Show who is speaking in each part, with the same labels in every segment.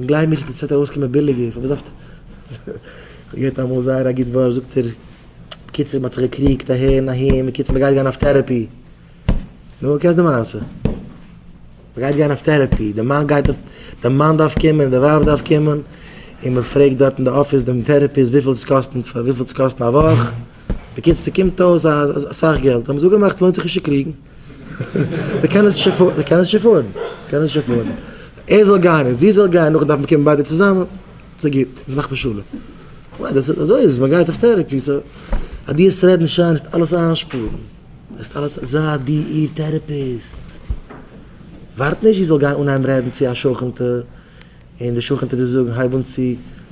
Speaker 1: גלייב מיר ס'וועט ארויסקומען ביליגער, פארוואס דארפסטו? כ'האב געהערט אמאל זייער א גוט ווארט, זאגט ער, בקיצור מ'האט זיך געקריגט אהער און אהין, בקיצור מ'גייט גיין אויף טערעפי. נו, קענסט די מעשה? מ'גייט גיין אויף טערעפי, די מאן גייט אויף, די מאן דארף קומען, די ווייב דארף קומען, און מ'פרעגט דארט אין די אפיס דעם טערעפיסט וויפיל עס קאסט, וויפיל עס קאסט א וואך, בקיצור ס'קומט אויס אסאך געלט, האבן זיי אפגעמאכט לוינט זיך נישט צו קריגן, זיי קענען עס נישט עפארדן, זיי קענען עס נישט עפארדן, ער זאל גיין און זי זאל גיין, נאכדעם דארף מען קומען ביידע צוזאמען, ס'גוט, אונז מאכט מען שלום, אוי אזוי איז עס, מען גייט אויף טערעפי, סא אז דו העסט רעדן שיין העסטו אלעס איינשפארן, העסטו אלעס, זיי דו איר טערעפיסט, ווארט נישט זי זאל גיין אנהייבן רעדן צו א שכנ'טע. און די שכן טוט דיר זאגן הייב אן צו,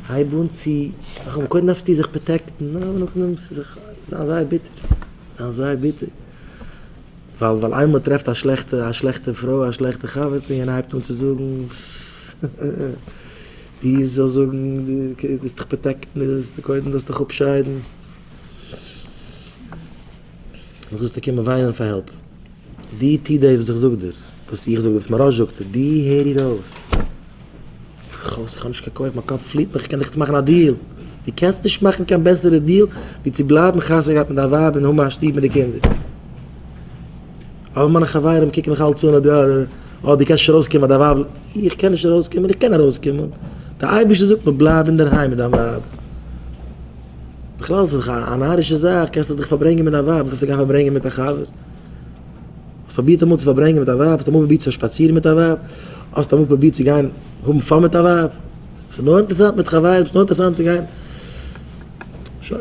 Speaker 1: הייב אן צו, איך האב, קודם דארפסטו זיך פראטעקטן, נו אבער נאכדעם ס'איז זיך זיין זייער ביטער, זיין זייער ביטער, ווייל ווייל איינמאל מ'טרעפט א שלעכטע א שלעכטע פרוי א שלעכטע חבר'טע און יענער הייבט אן צו זאגן די זאל זאגן די זאלסט דיך פראטעקטן די זאלסט קודם זאלסט דיך אפשיידן, נאכדעם זאלסטו קומען וויינען פאר העלפ. דו טו דאס וואס איך זאג דיר, וואס איך זאג, וואס מוהראש זאגט דיר, דו הער איר אויס. איך האב איך האב נישט קיין כח, מיין קאפ פליט מיך, איך קען דיך יעצט מאכן א דיעל, דו קענסט נישט מאכן קיין בעסערע דיעל ווי צו בלייבן חתונה געהאט מיט דיין ווייב און האבן א שטוב מיט די קינדער. אבער מיינע חברים קוקן מיך אלץ אן אז דו אה, דו קענסט נישט ארויסקומען אז דיין ווייב, איך קען נישט ארויסקומען, איך קען ארויסקומען, דער אייבערשטער זאגט מיר בלייב אינדערהיים מיט דיין ווייב. בכלל איז דאך א נארישע זאך, קענסט דאך דיך פארברענגען מיט דיין ווייב, וואס זאלסטו גיין פארברענגען מיט א חבר? האסט פרובירט אמאל צו פארברענגען מיט א ווייב? האסט אמאל פרובירט צו שפאצירן מיט א ווייב? האסט אמאל פרובירט צו גיין האבן פאן מיט א ווייב? ס'איז נאר אינטערעסאנט מיט חברים, ס'איז נאר אינטערעסאנט צו גיין. שוין.